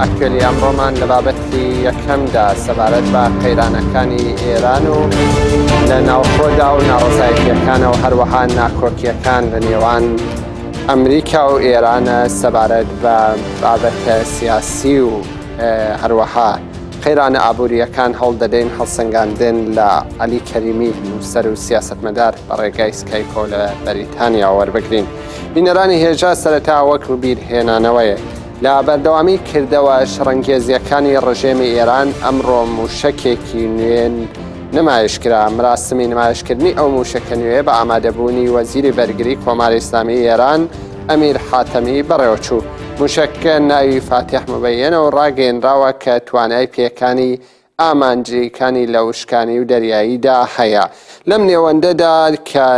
ئەکتوێلی ئەمڕۆمان لە بابەتی یەکەمدا سەبارەت بە قەیرانەکانی ئێران و لە ناوخۆدا و ناڕزایەتیەکانە و هەروەها ناکۆکیەکان لە نێوان ئەمریکا و ئێرانە سەبارەت بە بابەتە سیاسی و هەروەها قەیرانە ئابوووریەکان هەڵدەدەین هەڵسەنگاندن لە علی کەریمی نووسەر و سیاستمەدار بە ڕێگای سکایکۆ لە بەریتانیا وەربگرین بینەرانی هێژا سەرەتا وەک بیر هێنانەوەیە لە بەردەوامی کردەوە شەڕەنگێزیەکانی ڕژێمی ئێران ئەمڕۆ موشەکێکی نوێن نمایشکرا مراسمی نمایشکردنی ئەو موشەکە نوێ بە ئامادەبوونی وەزیری بەرگری کۆماری ئسلامی ئێران ئەمیر حاتەمی بەڕێوەچوو موشەکە ناوی فاتح مبینە و ڕاگەێنراوە کە توانای پێکانی ئامانجیکانی لە وشکانی و دەریاییدا هەیە لەم نێوەندەدا کە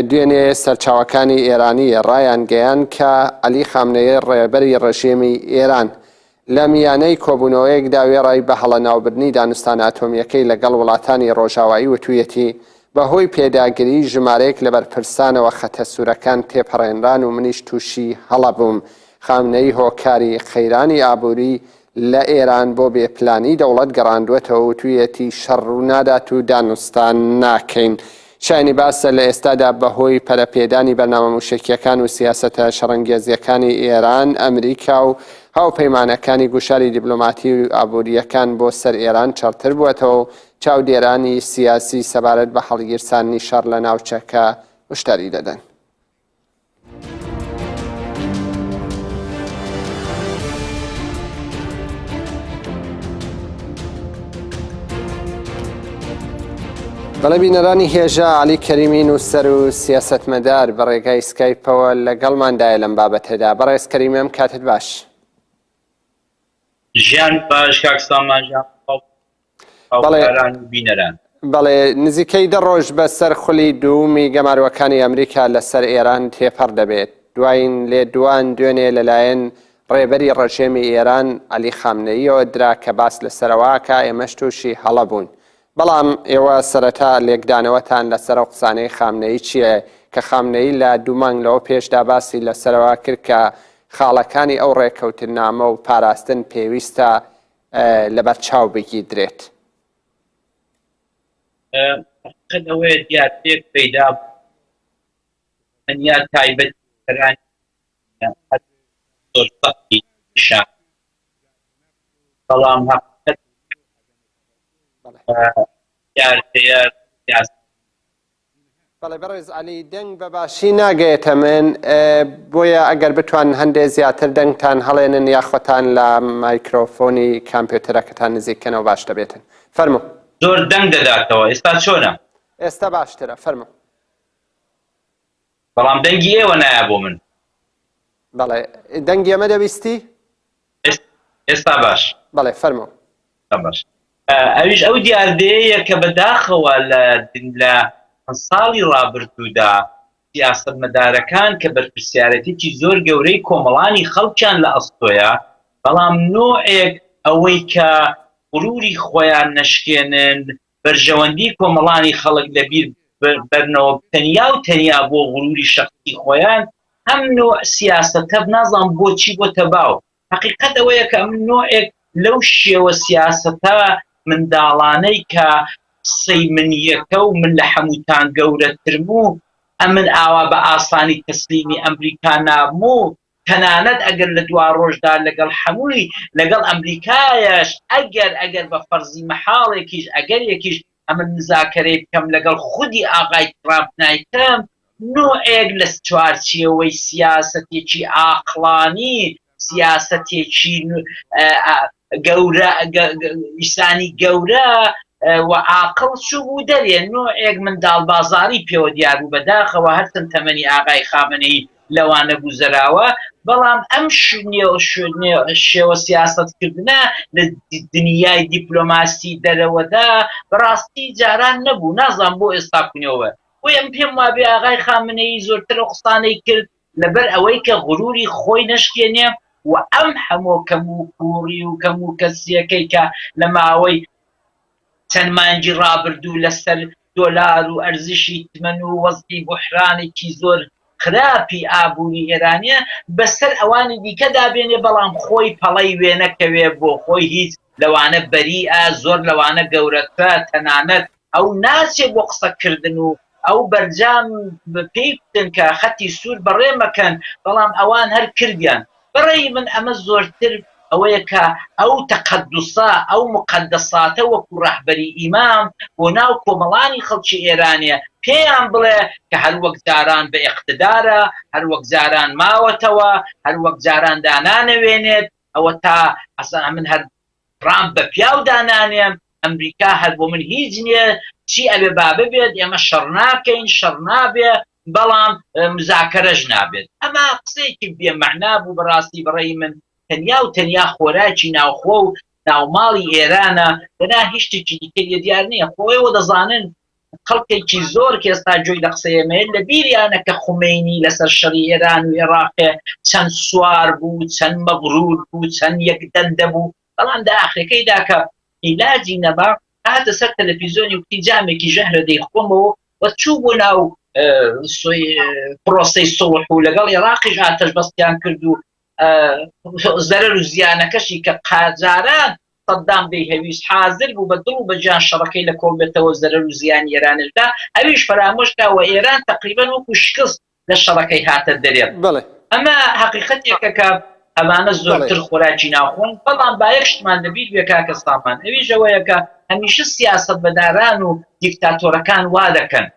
دوێنێ سەرچاوەکانی ئێرانی ڕایانگەیاند کە عەلی خامنەیی ڕێبەری ڕژێمی ئێران لە میانەی کۆبوونەوەیەکدا وێڕای بە هەڵە ناوبردنی دانوستانە ئەتۆمییەکەی لەگەڵ وڵاتانی ڕۆژاوایی وتوویەتی بەهۆی پێداگری ژمارەیەک لە بەرپرسانەوە خەتە سوورەکان تێپەڕێنران و منیش تووشی هەڵە بووم خامنەیی هۆکاری قەیرانی ئابووری لە ئێران بۆ بێ پلانی دەوڵەت گەڕاندووەتەوە وتوویەتی شەڕ ڕوو نادات و دانوستان ناکەین. شایانی باسە لە ئێستادا بە هۆی پەرە پێدانی بەرنامە مووشەکییەکان و سیاسەتە شەڕەنگێزییەکانی ئێران، ئەمریکا و هاوپەیمانەکانی گوشاری دیبلۆماتی و ئابوورییەکان بۆ سەر ئێران چڕتر بووەتەوە و چاودێرانی سیاسی سەبارەت بە هەڵگیرساندنی شەڕ لە ناوچەکە هوشداری دەدەن. بەڵێ بینەرانی هێژا علی کەریمی نووسەر و سیاستمەدار بە ڕێگای سکایپەوە لەگەڵماندایە لەم بابەتەدا بەڕێز کەریمێم کاتت باش ژیان باش کاکسان ماژە بەڵێ نزیکەی دە ڕۆژ بە سەر خولی دوومی گەماروەکانی ئەمریکا لە سەر ئێران تێپەڕ دەبێت دواین لێ دوان دوێنێ لەلایەن ڕێبەری ڕژێمی ئێران علی خامنەییەوە درا کە باس لە سەرەوەکە ئێمەش تووشی هەڵە بوون بەڵام ئێوە سەرەتا لێکدانەوەتان لە سەرە قسانەی خامنەی چییە کە خامنەی لە دوومانگ لەوە پێشدا باسی لە سەرەوە کرد کە خاڵەکانی ئەو ڕێککەوتنامە و پاراستن پێویستە لەبەر چاو بگیدرێت. قەت ئەوەیە دیاتێک پەیدا تەنیا تایبەت کەران زۆر سەختی شان بەڵام هەقیقەت یارتەیە بەڵێ بەڕێز عەلی دەنگ بە باشی ناگەێتە من بۆیە ئەگەر بتوان هەندێ زیاتر دەنگتان هەڵێنن یاخۆتان لە مایکرۆفۆنی کامپیوتەرەکەتان نزیککەنەوە باش دەبێتن فەرمو زۆر دەنگ دەداتەوە ئێستا چۆنە؟ ئێستا باشترە فەرمو. بەڵام دەنگی ئێوە نایە بۆ من. بەڵێ دەنگی ئەمە دەویستی؟ ئێستا باش. بەڵێ فەرموو. ئێستا باش. ئەویش ئەو دیاردەیەیە کە بە داخەوە لە لە ساڵی ڕابردوودا سیاسەتمەدارەکان کە بەرپرسیارەتێکی زۆر گەورەی کۆمەڵانی خەڵکیان لە ئەستۆیە بەڵام نۆعێک ئەوەی کە غروری خۆیان نەشکێنن بەرژەوەندی کۆمەڵانی خەڵک لە بیر بەرنەوە تەنیا و تەنیا بۆ غروری شەخسی خۆیان ئەم نوع سیاسەتە نازانم بۆچی بۆتە باو حەقیقەت ئەوەیە کە ئەم نوعێک لەو شێوە سیاسەتە منداڵانەی کە قسەی من یەکە و من لە حەمووتان گەورەترم و ئەمن ئاوا بە ئاسانی تەسلیمی ئەمریکا نابم و تەنانەت ئەگەر لە دواڕۆژدا لەگەڵ هەمووی لەگەڵ ئەمریکایش ئەگەر ئەگەر بە فەرزی مەحاڵێکیش ئەگەرێکیش ئەمن مزاکەرەی بکەم لەگەڵ خودی ئاغای تڕامپ نایکەم نوعێک لە چوارچێوەی سیاسەتێکی ئاقڵانی سیاسەتێکی گەورە ئیسانی گەورە و ئاقڵ چووبوو دەرێ نوعێک منداڵبازاڕی پێوە دیاربوو بەداخەوە هەرچەند تەمەنی ئاغای خامەنەیی لەوانە گوزەراوە، بەڵام ئەم شێوە سیاسەتکردنە لە دنیای دیپلۆماسی دەرەوەدا بەڕاستی جاران نەبوو، نازانم بۆ ئێستا کونەوە، بۆیە من پێم وابێ ئاغای خامنەیی زۆرتر ئەو قسانەی کرد لەبەر ئەوەی کە غروری خۆی نەشکێنێ و ئەم هەمۆ کەم و کووڕی و کەم و کەسیەکەی کە لە ماوەی چەند مانگی ڕابردوو لە سەر دۆلار و ئەرزشی تمەن و وەزعی بوحرانێکی زۆر خراپی ئابووری ئێرانە بەسەر ئەوانی دیکەدا بێنێ بەڵام خۆی پەڵەی وێ نەکەوێ بۆ خۆی هیچ لەوانە بەریئە زۆر لەوانە گەورەترە تەنانەت ئەو ناچێ بۆ قسە کردن و ئەو بەرجام پێی بتن کە خەتی سوور بەڕێ مەکەن بەڵام ئەوان هەر کردیان بەڕەی من ئەمە زۆرتر ئەوەیە کە ئەو تەقەدوسە، ئەو موقەدەساتە وەکو ڕەهبەری ئیمام بۆ ناو کۆمەڵانی خەڵکی ئێرانێ پێیان بڵێ کە هەر وەک جاران بە ئێقتدارە، هەر وەک جاران ماوەتەوە، هەر وەک جاران دانانەوێنێت، ئەوە تا ئەسا من هەر ترامپ بە پیاو دانانێم ئەمریکا هەر بۆ من هیچ نیە چی ئەبێ با ببێت ئێمە شەڕ ناکەین شەڕ نابێ بەڵام مزاکەرەش نابێت ئەمە قسەیەکی بێ مەعنا بوو بەڕاستی بەڕێی من تەنیا و تەنیا خۆراکی ناوخۆ و ناوماڵی ئێرانە دەنا هیچ شتێکی دیکە لێ دیار نییە خۆیەوە دەزانن خەڵکێکی زۆر کە ئێستا گوێی لە قسەی ئێمەیە لە بیریانە کە خومەینی لەسەر شەڕی ئێران و ئێڕاق چەند سوار بوو، چەند مەغرور بوو، چەند یەک دەندە بوو، بەڵام لە ئاخرەکەیدا کە ئیلاجی نەما هاتە سەر تەلەفیزۆنی وتی جامێکی ژەهرە دەیخۆمەوە و چوو بۆ ناو پرۆسەی سوڵح و لەگەڵ ئێڕاقیش ئاتەشبەستیان کرد و زەرەر و زیانەکەشی کە قاجاران سەدام دەیهەویست حازر بوو بە دڵ و بە جان شەڕەکەی لە کۆڵ بێتەوەو زەرەر و زیانی ئێرانش دا ئەویش فەرامۆش کا و ئێران تەقریبەن وەکو شکست لە شەڕەکەی هاتە دەرێ. بەڵێ. ئەمە هەقیقەتێکە کە ئەمانە زۆرتر خۆراکی ناوخۆن بەڵام با یەک شتمان لە بیر بێ کاکە سامان ئەویش ئەوەیە کە هەمیشە سیاسەتمەداران و دیکتاتۆرەکان وا دەکەن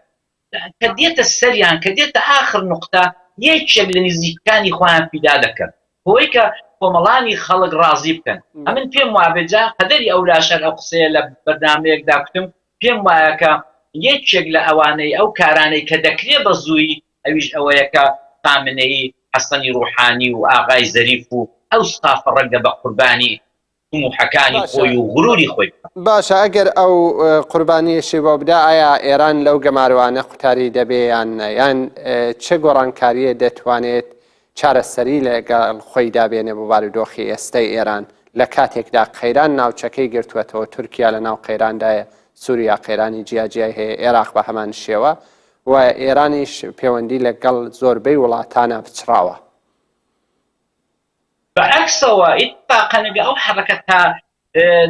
کە دێتە سەریان، کە دێتە ئاخر نوقتە، یەکێک لە نزیکەکانی خۆیان فیدا دەکەن، بۆوەی کە کۆمەڵانی خەڵک ڕازی بکەن. ئەمن پێم وابێت، جا قەدەری ئەولاشەر ئەو قسەیە لە بەرنامەیەکدا کوتم، پێم وایە کە یەکێک لە ئەوانەی، ئەو کارانەی کە دەکرێ بە زوویی، ئەویش ئەوەیە کە خامنەیی، حەسەنی ڕوحانی و ئاغای زەریف و ئەو ستافە ڕەنگە بە قوربانی تموحەکانی خۆی و غروری خۆی بکات. باشە ئەگەر ئەو قوربانیەشی بۆ بدا ئایا ئێران لەو گەمارۆانە قوتاری دەبێ یان نە یان چ گۆڕانکاریە دەتوانێت چارەسەری لەگەڵ خۆیدا بێنێ بۆ بارودۆخی ئێستای ئێران لە کاتێکدا قەیران ناوچەکەی گرتوەتەوە تورکیا لە ناو قەیراندایە سوریا قەیرانی جیاجیای هەیە ئێراق بە هەمان شێوە و ئێرانیش پێوەندی لەگەڵ زۆربەی وڵاتانە پچڕاوە. بە عەکسەوە ئیتفاقەن ئەگە ئەو حەرەکەتە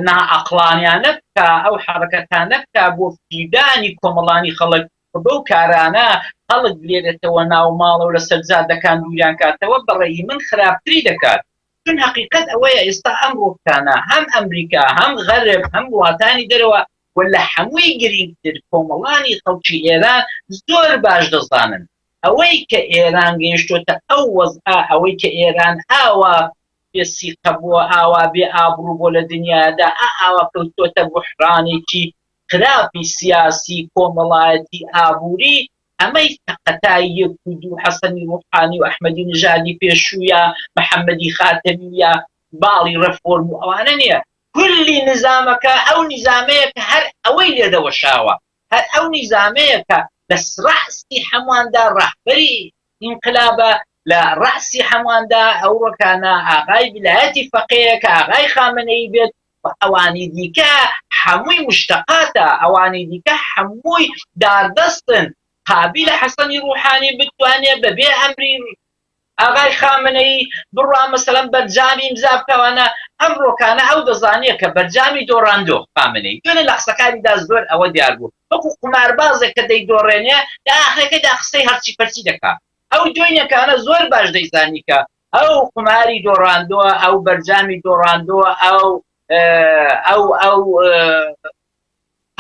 ناعەقڵانیانە بکا، ئەو حەرەکەتە نەکا بۆ فریودانی کۆمەڵانی خەڵک و بەو کارانە خەڵک بلێرێتەوە ناو ماڵ و لە سەر جادەکان دووریان کاتەوە بە ڕەئی من خراپتری دەکات. چون هەقیقەت ئەوەیە ئێستا ئەم ڕووختانە هەم ئەمریکا هەم غەرب هەم وڵاتانی دەرەوە و لە هەمووی گرینگتر کۆمەڵانی خەڵکی ئێران زۆر باش دەزانن ئەوەی کە ئێران گەیشتۆتە ئەو وەزعە، ئەوەی کە ئێران ئاوا بێ سیقە بووە، ئاوا بێ ئابڕوو بووە لە دنیادا، ئا ئاوا کەوتۆتە بوحرانێکی خراپی سیاسی، کۆمەڵایەتی، ئابووری، ئەمەی سەقەتای یەک و دوو حەسەنی ڕوحانی و ئەحمەدی نژادی پێشوو یا محەمەدی خاتەمی یا باڵی ڕێفۆرم و ئەوانە نییە، کلی نیزامەکە ئەو نیزامەیە کە هەر ئەوەی لێ دەوەشاوە. هەر ئەو نیزامەیە کە لە رەئسی هەمواندا رەهبەری ئینقلابە، لە رەئسی هەمواندا ئەو رکانە ئاغای ڤیلایەتی فەقێیە کە ئاغای خامەنەیی بێت و ئەوانی دیکە هەمووی مشتەقاتە، ئەوانی دیکە هەمووی داردەستن، قابیلە حەسەنی روحانی بتوانێ بەبێ ئەمری ئاغای خامنەیی بڕوا مەسەلەن بەرجامی ئیمزا بکەوانە ئەم ڕۆکانە ئەو دەزانیە کە بەرجامی دۆڕاندۆ خامنەیی دوێنێ لە قسەکانیدا زۆر ئەوە دیار بوو وەکو قوماربازێک کە دەیدۆڕێنێ لە ئاخرەکەیدا قسەی هەرچی پەرچی دەکا ئەو دوێنێکانە زۆر باش دەیزانی کە ئەو قوماری دۆڕاندۆ ئەو بەرجامی دۆڕاندۆ ئەو ئەو ئەو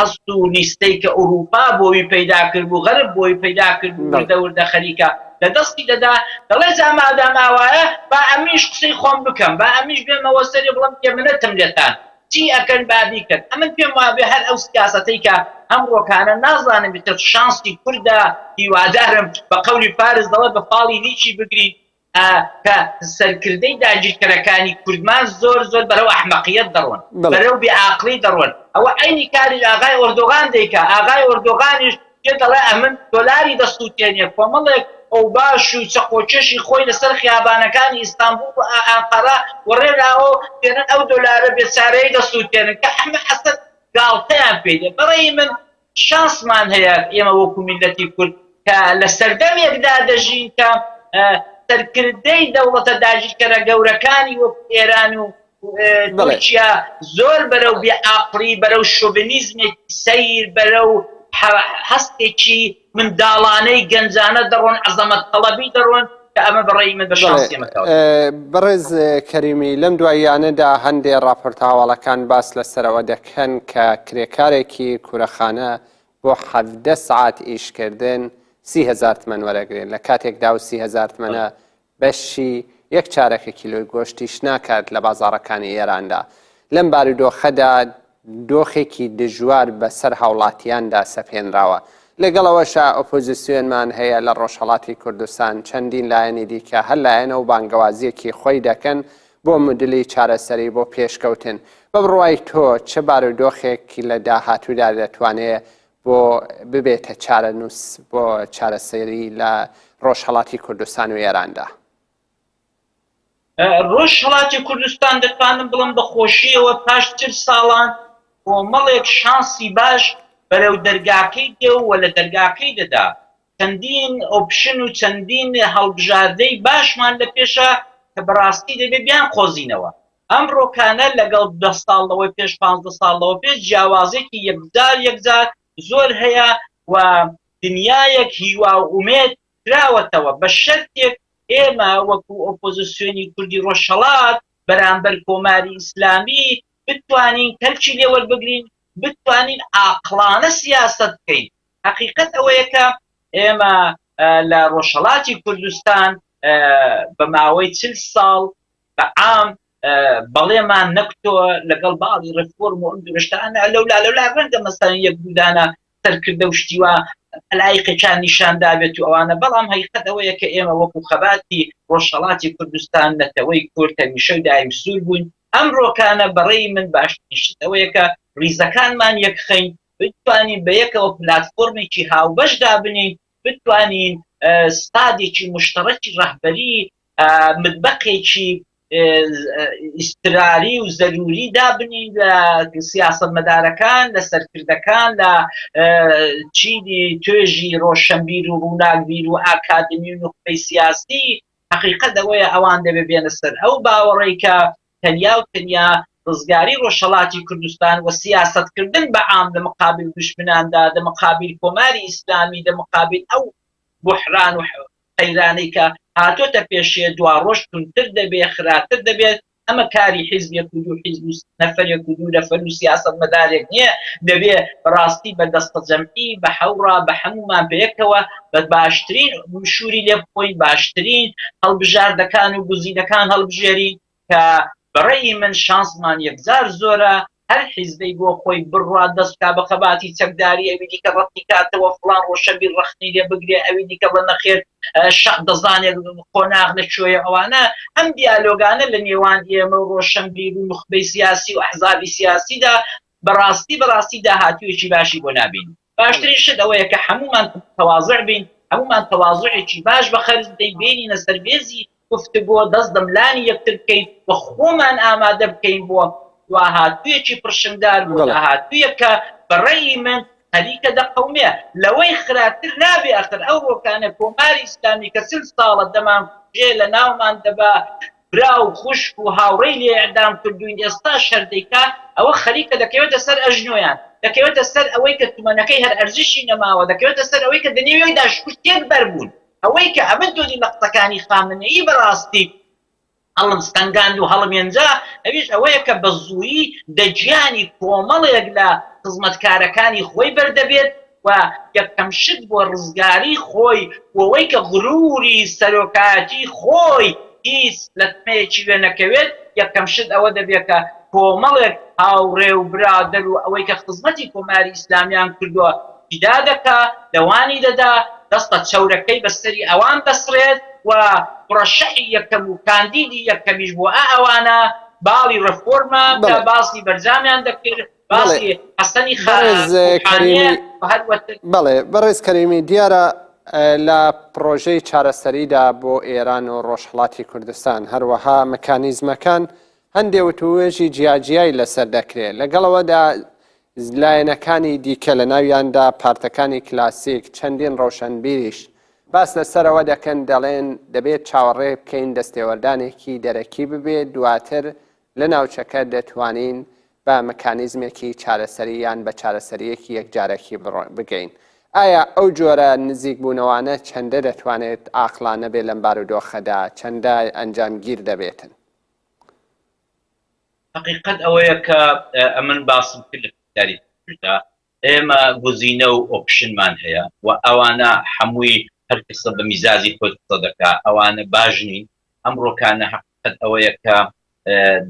هەست و لیستەی کە ئورووپا بۆوی پەیدا کرد و غەرب بۆوی پەیدا کرد و وردە وردە خەریکە لە دەستی دەدا، دەڵێ جا مادام ئاوایە با ئەمنیش قسەی خۆم بکەم، با ئەمنیش بێمەوە سەری بڵێم کێ منەتم لێتان چی ئەکەن با بیکەن. ئەمن پێم وابێ هەر ئەو سیاسەتەی کە ئەمڕۆکانە نازانم ئیتر شانسی کوردە، هیوادارم بە قەولی فارس دەڵێ بە فاڵی لیکی بگرین، ئە پە سەرکردەی داگیرکەرەکانی کوردمان زۆر زۆر بەرەو ئەحمەقیەت دەڕۆن بەڵێ. بەرەو بێ ئاقڵی دەڕۆن ئەوە عەینی کاری ئاغای ئۆردۆغان دەیکا ئاغای ئۆردۆغانیش پێ دەڵێ ئەمن دۆلاری دەسوتێنێ کۆمەڵێک ئەوباش و چەقۆکێشی خۆی لەسەر خیابانەکانی ئیستانبوڵ و ئە ئەنقەرە وەڕێناوە و دێنن ئەو دۆلارە بێچارەیە دەسوتێنن کە حەمە حەسەن گاڵتەیان پێ دێ بەڕەی من شانسمان هەیە ئێمە وەکو میللەتی کورد کە لە سەردەمێکدا دەژین کە سەرکردەی دەوڵەتە داگیرکەرە گەورەکانی وەکو ئێران و تورکیا زۆر بەرەو بێ ئاقڵی بەرەو شۆڤنیزمێکی سەیر بەرەو هەستێکی منداڵانەی گەنجانە دەڕۆن عەزەمەت تەڵەبی دەڕۆن بەڕێز کەریمی لەم دواییانەدا هەندێک ڕاپۆرتە هەواڵەکان باس لەسەرەوە دەکەن کە کرێکارێکی کورەخانە بۆ حەڤدە سعات ئیشکردن سیهزار تمەن وەرەگرێن لە کاتێکدا و سیهزار تمەە بەشی یەک چارەکە کیلۆی گۆشتیش ناکات لە بازارەکانی ئێراندا لەم بارودۆخەدا دۆخێکی دژوار بەسەر هاوڵاتیاندا سەپێنراوە. لەگەڵ ئەوەشا ئۆپۆزیسیۆنمان هەیە لە ڕۆژهەڵاتی کوردستان، چەندین لایەنی دیکە هەر لایەنە و بانگەوازیەکی خۆی دەکەن بۆ مدلی چارەسەری بۆ پێشکەوتن. بە بڕوای تۆ چ بارودۆخێک لە داهاتوودا دەتوانێ بۆ ببێتە چارەنووس بۆ چارەسەری لە ڕۆژهەڵاتی کوردستان و ئێراندا؟ ڕۆژهەڵاتی کوردستان دەتوانم بڵێم بە خۆشییەوە پاش چل ساڵان کۆمەڵێک شانسی باش بەرەو دەرگاکەی دێ و لە دەرگاکەی دەدا، چەندین ئۆپشن و چەندین هەڵبژاردەی باشمان لە پێشە کە بە ڕاستی دەبێ بیانقۆزینەوە. ئەم ڕۆکانە لەگەڵ دە ساڵ لەوە پێش، پانزدە ساڵ لەوە پێش جیاوازێکی یەکجار یەکجار زۆر هەیە و دنیایەک هیوا و ئومێد کراوەتەوە بە شەرتێک ئێمە وەکو ئۆپۆزسیۆنی کوردی ڕۆژهەڵات بەرامبەر کۆماری ئیسلامی بتوانین کەلکی لێ وەربگرین بتوانین ئاقڵانە سیاسەت بکەین هەقیقەت ئەوەیە کە ئێمە لە ڕۆژهەڵاتی کوردستان بە ماوەی چل ساڵ بە عام بەڵێمان نەکتۆ لەگەڵ باڵی ڕفۆرم و ئەم درشتانە لەولا لەولا ڕەنگە مەسەن یەک بودانە سەرکردە و شتی وا ئەلایقێکیان نیشان دابێت و ئەوانە بەڵام هەیقەت ئەوەیە کە ئێمە وەکو خەباتی ڕۆژهەڵاتی کوردستان نەتەوەی کورد هەمیشە و دایم سوور بووین ئەمڕۆکانە بەڕێی من باشترین شت ئەوەیە کە ڕیزەکانمان یەکخەین بتوانین بەیەکەوە پلاتفۆرمێکی هاوبەش دابنێین بتوانین ستادێکی موشتەڕەکی ڕەهبەری متبەقێکی ئیستراری و زەروری دابنین لە سیاست مەدارەکان لە سەرکردەکان لە چینی توێژی ڕۆشنبیر و ڕووناکبیر و ئاکادمی و نوخبەی سیاسی حقیقت ئەوەیە ئەوان دەبێ بێنە سەر ئەو باوەڕێکە تەنیا و تەنیا ڕزگاری ڕۆژهەڵاتی کوردستان و سیاسەت کردن بە عام لە مقابل دوشمناندا دە مقابل کۆماری ئیسلامی دە مقابل ئەو بوحران و قەیرانەی کە هاتۆتە پێشێ دوا ڕۆژ توندتر دەبێ خراتر دەبێت ئەمە کاری حیزبێک و دوو حیزب و نەفەرێک و دوو نەفەر و سیاسەت مەدارێک نیە دەبێ بەڕاستی بە دەستەجەمعی بە حەوڕا بە حەمومان بەیەکەوە بە باشترین شووری لێ بخۆین باشترین هەڵبژاردەکان و گزینەکان هەڵبژێرین کە بەڕێی من شانسمان یەکجار زۆرە هەر حیزبەی بۆ خۆی بڕات دەستکا بە خەباتی چەکداری ئەوی دیکە ڕەتی کاتەوە فڵان ڕۆشەبی ڕەخنی لێ بگرێ ئەوی دیکە بە نەخێر شەق دەزانێت قۆناغ لە کوێیە ئەوانە ئەم دیالۆگانە لە نێوان ئێمە و ڕۆشنبیر و نخبەی سیاسی و ئەحزابی سیاسیدا بەڕاستی بەڕاستی داهاتوویەکی باشی بۆ نابین باشترین شت ئەوەیە کە هەموومان متواضع بین، هەموومان تەواضوعێکی باش بە خەرج بدەین، بێنینە سەر مێزی گفتوگۆ، دەست لە ملانی یەکتر بکەین و خۆمان ئامادە بکەین بۆ دواهاتوویەکی پڕشنگدار، بۆ داهاتوویەک کە بە ڕەئی من خەریکە دەقەومێ. لەوەی خراپتر نابێ ئەخر ئەو ڕۆکانە کۆماری ئیسلامی کە چل ساڵە دەمانکوژێ، لەناومان دەبا، برا و خوشک و هاوڕێی لێ ئیعدام کردووین ئێستاش هەر دەیکا ئەوە خەریکە دەکەوێتە سەر ئەژنۆیان دەکەوێتە سەر ئەوەی کە تمەنەکەی هەر ئەرزشی نەماوە دەکەوێتە سەر ئەوەی کە دنێوی دا شکوو تێک بەر بوون ئەوەی کە ئەمن تۆنی لە قسەکانی خامنەیی بە ڕاستی هەڵم ستەنگاند و هەڵم ینجا ئەویش ئەوەیە کە بە زوویی دە گیانی کۆمەڵێک لە خزمەتکارەکانی خۆی بەر دەبێت. و یەکەم شت بۆ ڕزگاری خۆی بۆوەی کە غروری سەرۆکایەتی خۆی هیچ لەتمەیەکی وێ نەکەوێت یەکەم شت ئەوە دەبێت کە کۆمەڵێک هاوڕێ و برادەر و ئەوەی کە خزمەتی کۆماری ئیسلامیان کردوە فیدا دەکا لەوانی دەدا دەستە چەورەکەی بە سەری ئەوان دەسڕێت و مرەشەحی یەکەم و کاندیدی یەکەمیش بۆ ئەوانە باڵی ڕێفۆرمە کە باسی بەرجامیان دەکرد باسی حەسەنی خاکوحانیە بەڵێ بەڕێز کەریمی دیارە لە پرۆژەی چارەسەریدا بۆ ئێران و ڕۆژهڵاتی کوردستان هەروەها مکانیزمەکان هەندێ وتوێژی جیاجیایی لەسەر دەکرێت لەگەڵەوەدا لایەنەکانی دیکە لە ناویاندا پارتەکانی کلاسیک چەندین ڕەوشەنبیریش باس لەسەرەوە دەکەن دەڵێن دەبێت چاوەڕێ بکەین دەستێوەردانێکی دەرەکی ببێت دواتر لە ناوچەکە دەتوانین بە مکانیزمێکی چارەسەری یان بە چارەسەرییەکی یەکجارەکی بگەین. ئایا ئەو جۆرە نزیکبوونەوانە چەندە دەتوانێت عاقڵانە بێت لەم بارودۆخەدا، چەندە ئەنجامگیر دەبێتن؟ حەقیقەت ئەوەیە کە ئەمن باسم کرد لە پرسیاری پێشووشدا، ئێمە گوزینە و ئۆپشنمان هەیە و ئەوانە هەمووی هەر کەسە بە میزاجی خۆی قسە دەکات، ئەوانە باش نین، ئەمڕۆکانە هەق قەت ئەوەیە کە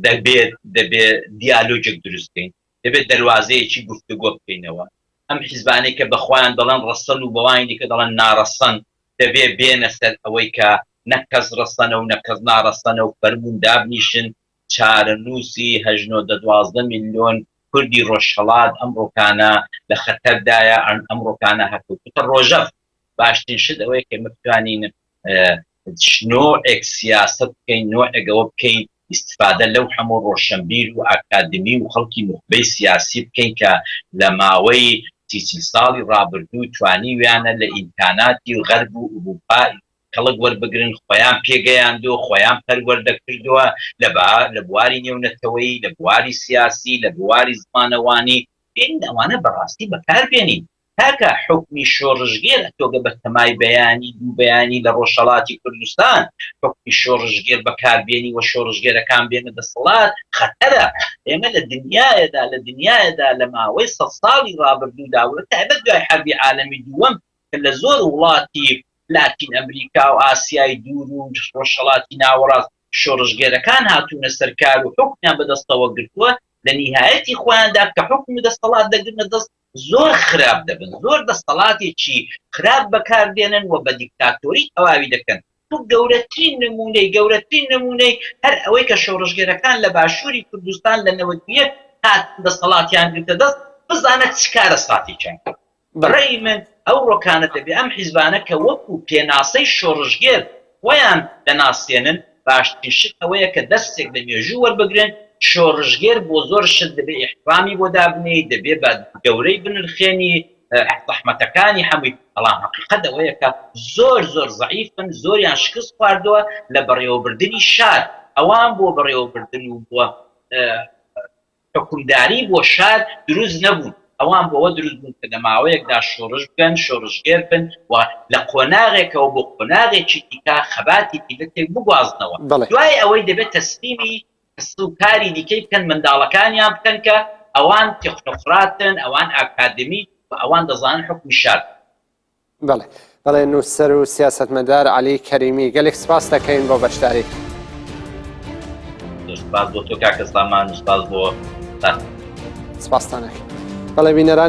دەبێت دەبێ دیالۆجێک دروست بکەین، دەبێت دەروازەیەکی گفتوگۆ بکەینەوە، ئەم حیزبانەی کە بە خۆیان دەڵێن ڕەسەن و بەوانی دیکە دەڵێن ناڕەسەن، دەبێ بێنە سەر ئەوەی کە نە کەس ڕەسەنە و نە کەس ناڕەسەنە و فەرموون دابنیشن چارەنووسی هەشت نۆ دە دوازدە میلیۆن کوردی ڕۆژهەڵات ئەم ڕوکانە لە خەتەردایە، ئەم ڕوکانە هەر کوتە ڕۆژەڤ باشترین شت ئەوەیە کە ئێمە بتوانین نۆعێک سیاسەت بکەین نۆعێک ئەوە بکەین ئیستفادە لەو هەموو ڕۆشەنبیر و ئاکادمی و خەڵکی نوخبەی سیاسی بکەین کە لە ماوەی سی چل ساڵی ڕابردوو توانیویانە لە ئیمکاناتی و غەرب و ئورووپا کەڵک وەربگرن خۆیان پێگەیاندووە خۆیان پەروەردە کردووە لە با لە بواری نێونەتەوەیی لە بواری سیاسی لە بواری زمانەوانی بێنین ئەوانە بەڕاستی بەکاربێنین کاکە حوکمی شۆڕشگێر ئەتۆگە بە تەمای بەیانی دوو بەیانی لە ڕۆژهەڵاتی کوردستان حوکمی شۆڕشگێر بەکاربێنی وە شۆڕشگێرەکان بێنە دەسەڵات خەتەرە ئێمە لە دنیایەدا لە دنیایەدا لە ماوەی سەد ساڵی ڕابردوودا وە تایبەت دوای حەربی عالەمی دووەم کە لە زۆر وڵاتی لاتین ئەمریکا و ئاسیای دوور و ڕۆژهەڵاتی ناوەڕاست شۆڕشگێرەکان هاتوونە سەر کار و حوکمیان بەدەستەوە گرتووە لە نیهایەتی خۆیاندا کە حوکم و دەسەڵات دەگرنە دەست زۆر خراپ دەبن زۆر دەستەڵاتێکی خراپ بەکار دێنن و بە دیکتاتۆری تەواوی دەکەن و گەورەترین نموونەی گەورەترین نموونەی هەر ئەوەی کە شۆڕشگێرەکان لە باشووری کوردستان لە نەوەد و یەک هاتن دەستەڵاتیان گرتە دەست بزانە چ کارەساتێکیان کرد بەڕێی من ئەوڕۆکانە دەبێ ئەم حیزبانە کە وەکوو پێناسەی شۆڕشگێر خۆیان دەناسێنن، باشترین شت ئەوەیە کە دەرسێک لە مێژوو وەربگرن، شۆڕشگێر بۆ زۆر شت دەبێ ئیحتڕامی بۆ دابنێی، دەبێ بە گەورەی بنرخێنی زەحمەتەکانی هەمووی، بەڵام هەقیقەت ئەوەیە کە زۆر زۆر زەعیفن، زۆریان شکست خواردووە لە بەڕێوەبردنی شار، ئەوان بۆ بەڕێوەبردن و بۆ حوکمداری بۆ شار دروست نەبوون، ئەوان بۆ ئەوە دروست بوون کە لە ماوەیەکدا شۆڕش بکەن، شۆڕشگێر بن و لە قۆناغێکەوە بۆ قۆناغێکی دیکە خەباتی میللەتێک بگوازنەوە، بەڵێ. دوای ئەوەی دەبێت تەسلیمی کەس و کاری دیکەی بکەن، منداڵەکانیان بکەن کە ئەوان تێکنۆقراتن، ئەوان ئاکادمیک و ئەوان دەزانن حوکمی شار چییە. بەڵێ بەڵێ نووسەر و سیاستمەدار علی کەریمی گەلێک سپاس دەکەین بۆ بەشداری سپاس بۆ تۆ کاکە سامان سپاس بۆ سپاستانەکە بەڵێ بینەران